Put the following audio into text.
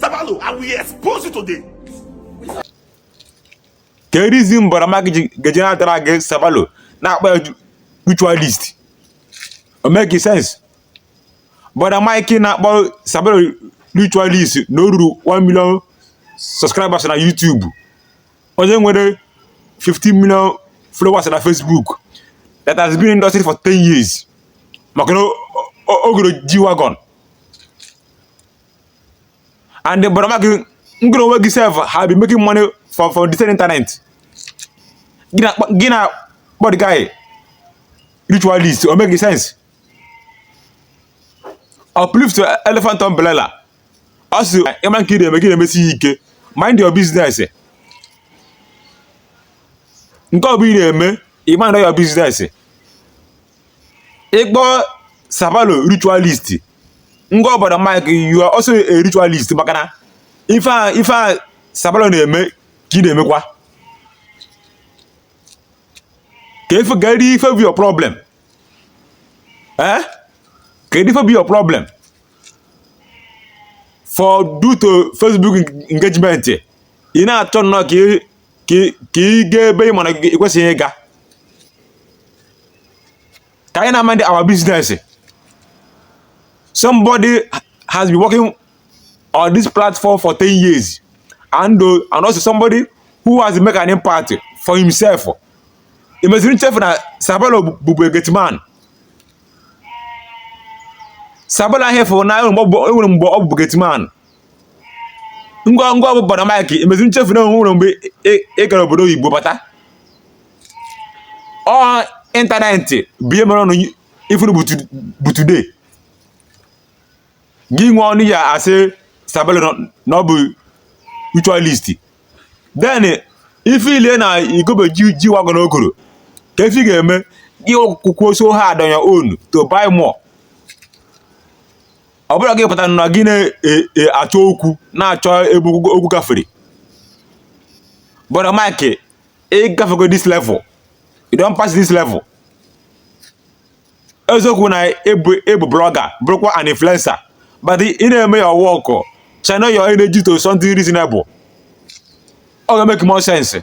Sabalo, I will expose you today. Ke reason Brother Mike ga-eji na-adrag Sabalo na-akpọ ya ritualist. O make sense. Brother Mike na-akpọ Sabalo ritualist na o ruru 1 million subscribers na YouTube. Onye nwere 15 million followers na Facebook that has been in industry for 10 years. Maka na o goro G-Wagon. and brother Mike ngị onwe gị sef have been making money from the same internet gị na-akpọ the guy ritualist o make sense uplift elephant umbrella ọ sị ị ma nke ị na-eme gị na-emesi ya ike mind your business nke ọ bụ ị na-eme ị mind your business ịkpọ sabalo ritualist ngwa brother mike you are also a ritualist maka na ife a ife a sabalo na-eme ka ị na-emekwa kedu ife bụ your problem eh kedu ife bụ your problem for due to facebook engagement ị na-achọ nnọọ ka ị ka ị gaa ebe ị ma na ị kwesịghị ịga ka anyị na-amind our business somebody has been working on this platform for 10 years and, uh, and also somebody who has make an impact for himself i mezi nchefu na sabalo bụbu gateman sabalo a ị fụrụ na e nwere mgbe ọ bụbu gateman ngịnwa bụ brother mike i mezi nchefu na e nwere mgbe ị gara obodo oyibo bata ọ internet bụ ihe mere unu ife unu bụ today gị nwe ọnụ ya asị sabalo na ọ bụ ritualist then ife ile na i gobeghi G-Wagon o goro ke ife ị ga-eme gị workụkwuo so hard on your own to buy more ọ bụrụ gị pụtara na gị na-achọ e, e, okwu na-achọ ebe okwu gafere brother Mike ị gafego this level you don pass this level eziokwu na ị bụ blogger bụrụkwa an influencer but ị na-eme your work channel your energy to something reasonable ọ ga-make more sense